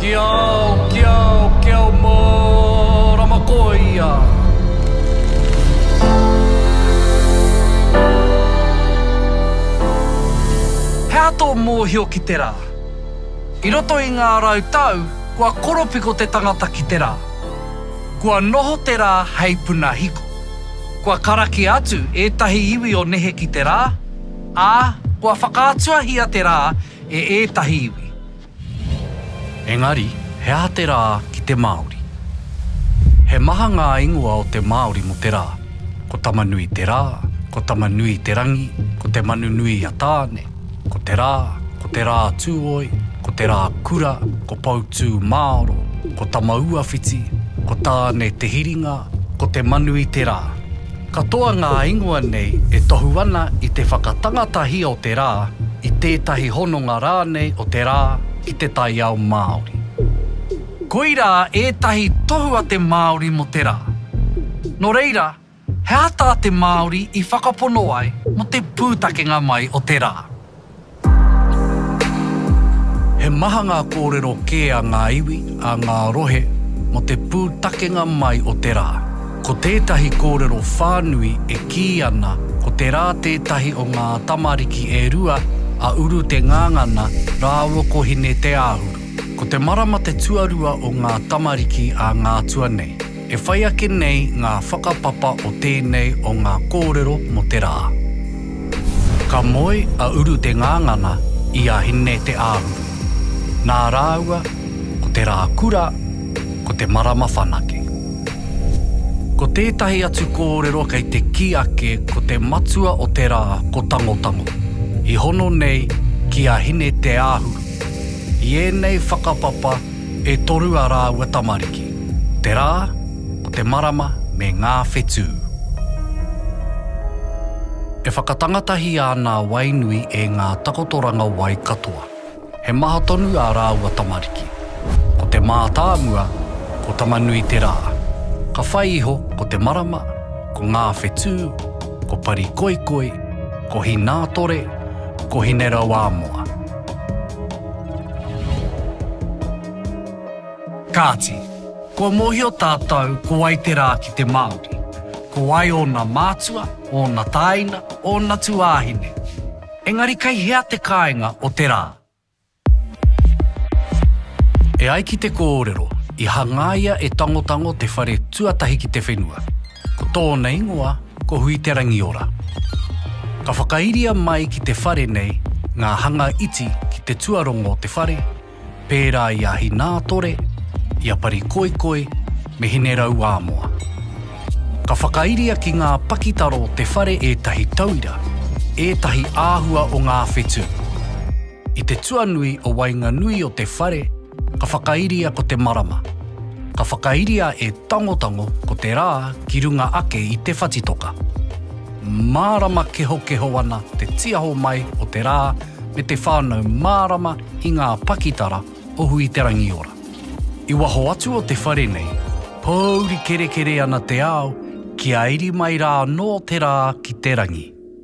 Ki ao, ki ao, ki ao mārama koa ia. He aha tō mōhio ki te rā? I roto i ngā rau tau, kua koropiko te tangata ki te rā. Kua noho te rā hei puna hiko. Kua karakia atu ētahi iwi o nehe ki te rā, ā, kua whakaatuahia te rā e ētahi iwi. Engari, he aha te rā ki te Māori? He maha ngā ingoa o te Māori mō te rā. Ko Tamanui te rā, ko Tamanui te rangi, ko Te Manu Nui a Tāne, ko Te Rā, ko Te Rā Tūoi, ko Te Rā Kura, ko Poutūmāoro, ko Tamauawhiti, ko Tāne Te Hiringa, ko Te Manu i te Rā. Katoa ngā ingoa nei e tohu ana i te whakatangatahia o te rā, i tētahi hononga rānei o te rā ki te taiao Māori. Koirā ētahi tohu a te Māori mō te rā. Nō reira, he aha tā te Māori i whakapono ai mō te pūtakenga mai o te rā? He maha ngā kōrero kē a ngā iwi, a ngā rohe mō te pūtakenga mai o te rā. Ko tētahi kōrero whānui e kī ana ko te rā tētahi o ngā tamariki e rua a Uru Te Ngangana rāua ko Hine Te Āhuru. Ko te marama te tuarua o ngā tamariki a Ngātua nei. E whai ake nei ngā whakapapa o tēnei o ngā kōrero mō te rā. Ka moe a Uru Te Ngangana i a Hine Te Āhuru. Nā rāua ko Te Rā Kura, ko Te Marama Whanake. Ko tētahi atu kōrero kei te kī ake ko te matua o te rā ko Tangotango, i hono nei ki a Hine Te Āhuru. I ēnei whakapapa E toru a rāua tamariki, te rā, ko te marama me ngā whetū. E whakatangatahi ana a Wainui e ngā takotoranga wai katoa. He maha tonu ā rāua tamariki. Ko te mātāmua, ko Tama-nui-te-rā. Ka whai iho ko te marama, ko ngā whetū, ko Parikoikoi, ko Hinātore, ko Hinerauāmoa. Kāti, kua mōhio tātou ko wai te rā ki te Māori, ko wai ōna mātua, ōna tāina, ōna tuāhine. Engari kei hea te kāinga o te rā? E ai ki te kōrero, i hangaia e Tangotango te whare tuatahi ki te whenua. Ko tōna ingoa ko Huiterangiora. Ka whakairia mai ki te whare nei ngā hanga iti ki te tuarongo o te whare, pērā i a Hinātore, i a Parikoikoi me Hinerauāmoa. Ka whakairia ki ngā pakitara o te whare ētahi tauira, ētahi āhua o ngā whetū. I te tuanui o waenganui o te whare, Ka whakairia ko te marama. Ka whakairia e Tangotango ko te rā ki runga ake i te whatitoka. Mārama kehokeho ana te tiaho mai o te rā me te whānau mārama i ngā pakitara o Hui-te-rangi-ora. I waho atu o te whare nei, pōuri kerekere ana te ao kia iri mai rā anō te rā ki te rangi.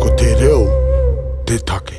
Ko te reo te take.